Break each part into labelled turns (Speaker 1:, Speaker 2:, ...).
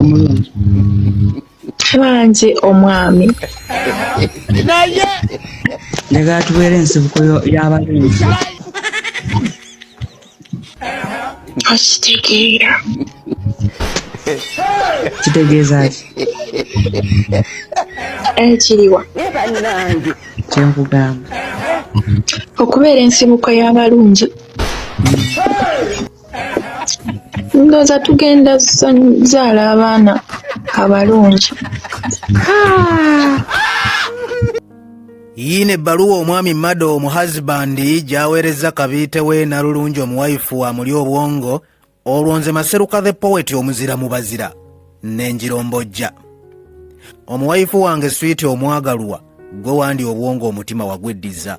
Speaker 1: omulungi
Speaker 2: bangi omwami naye
Speaker 1: njagala tubeera ensibuko y'abalungi
Speaker 2: okitegeera
Speaker 1: kitegeeza ki
Speaker 2: ekiriwa kyenkugamba okubeera ensibuko y'abalungi ndooza tugenda zaala abaana abalungi
Speaker 3: yiino ebbaluwa omwami mado omu husbandi gyaweerezza kabiite we nalulungi omuwayifu amuli obwongo olwo nze maseruka the poet omuzira mu bazira nenjirombojja omuwayifu wange swiiti omwagalwa gwe wandi obwongo omutima wagweddiza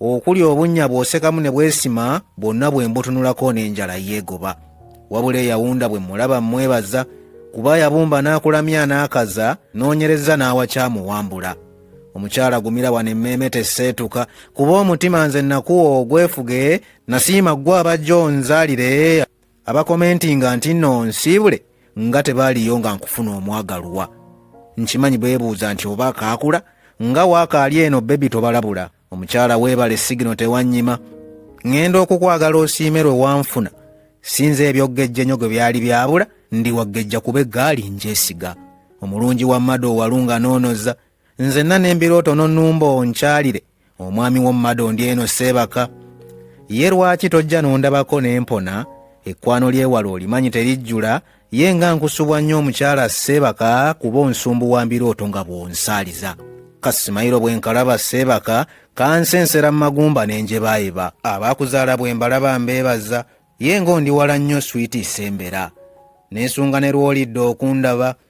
Speaker 3: okuli obunnya bw'osekamu ne bwesima bwonna bwe mbutunulako n'enjala yeegoba wabula eyawunda bwe mulaba mmwebaza kuba yabumba n'akulamya n'akaza noonyereza n'awakyamuwambula omukyala gumira wano emmeeme teseetuka kuba omutima nze nakuwa ogwefuge nasiima ggwe abajja onzaalire abakomentinga nti nno nsiibule nga tebaaliyo nga nkufuna omwagalwa nkimanyi beebuuza nti oba akaakula nga waakaali eno bebi tobalabula omukyala weebale sigino tewannyima ŋŋenda okukwagala osiime lwe wanfuna sinza ebyoggejja ennyo gwe byali byabula ndi waggejja kuba eggaali njesiga omulungi wa mado owalunga noonoza nzenna n'embirooto nonumba onkyalire omwami w'omumadondi eno seebaka ye lwaki tojja nondabako ne mpona ekkwano ly'ewala olimanyi terijjula ye nga nkusubwa nnyo omukyala seebaka kuba onsumbu wa mbirooto nga bw'onsaaliza kasimayiro bwe nkalaba seebaka kansensera mu magumba ne njebaayeba abaakuzaala bwe mbalaba mbeebaza ye nga ondiwala nnyo switi sembera neesunga ne lw'olidde okundaba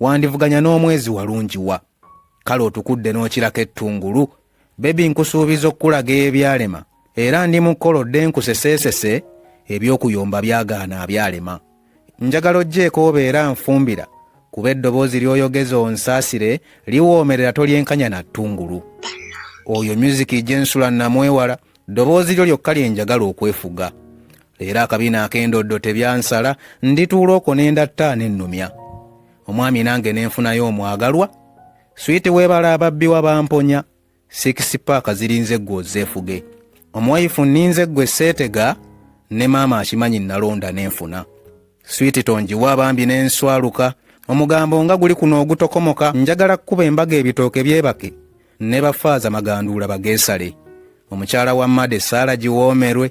Speaker 3: wandivuganya n'omwezi walungi wa kale otukudde n'okirako ettungulu bebi nkusuubiza okukulaga ebyalema era ndi mu kkola odde nkuseseesese eby'okuyomba byagaana abyalema njagala ojjeeko obeera nfumbira kuba eddoboozi ly'oyogeza onsaasire liwoomerera tolyenkanya na ttungulu oyo myuziki gye nsula namwewala ddoboozi lyo lyokka lye njagala okwefuga leero akabiina ak'endoddo tebyansala ndituula okwo ne ndatta nennumya omwami nange ne nfunayo omwagalwa switi weebala ababbi wa bamponya sikisi paaka zirinze ggwe ozeefuge omuwayifu nninze ggwe seetega ne maama akimanyi nnalonda ne nfuna switi tongiwa bambi ne nswaluka omugambo nga guli kuno ogutokomoka njagala kukuba embaga ebitooke byebake ne bafaaza maganduula bageesale omukyala wa made saala giwoomerwe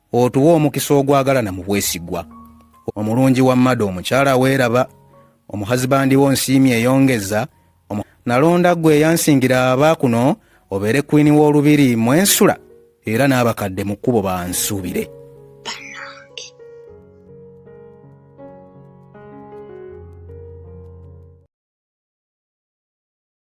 Speaker 3: otuwa omukisa ogwagalana mu bwesigwa omulungi wa mmada omukyala weeraba omuhazibandi wo nsiimi eyongeza nalonda gwe eyansingira aba kuno obeere kwini w'olubiri mwensula era n'abakadde mu kkubo bansuubire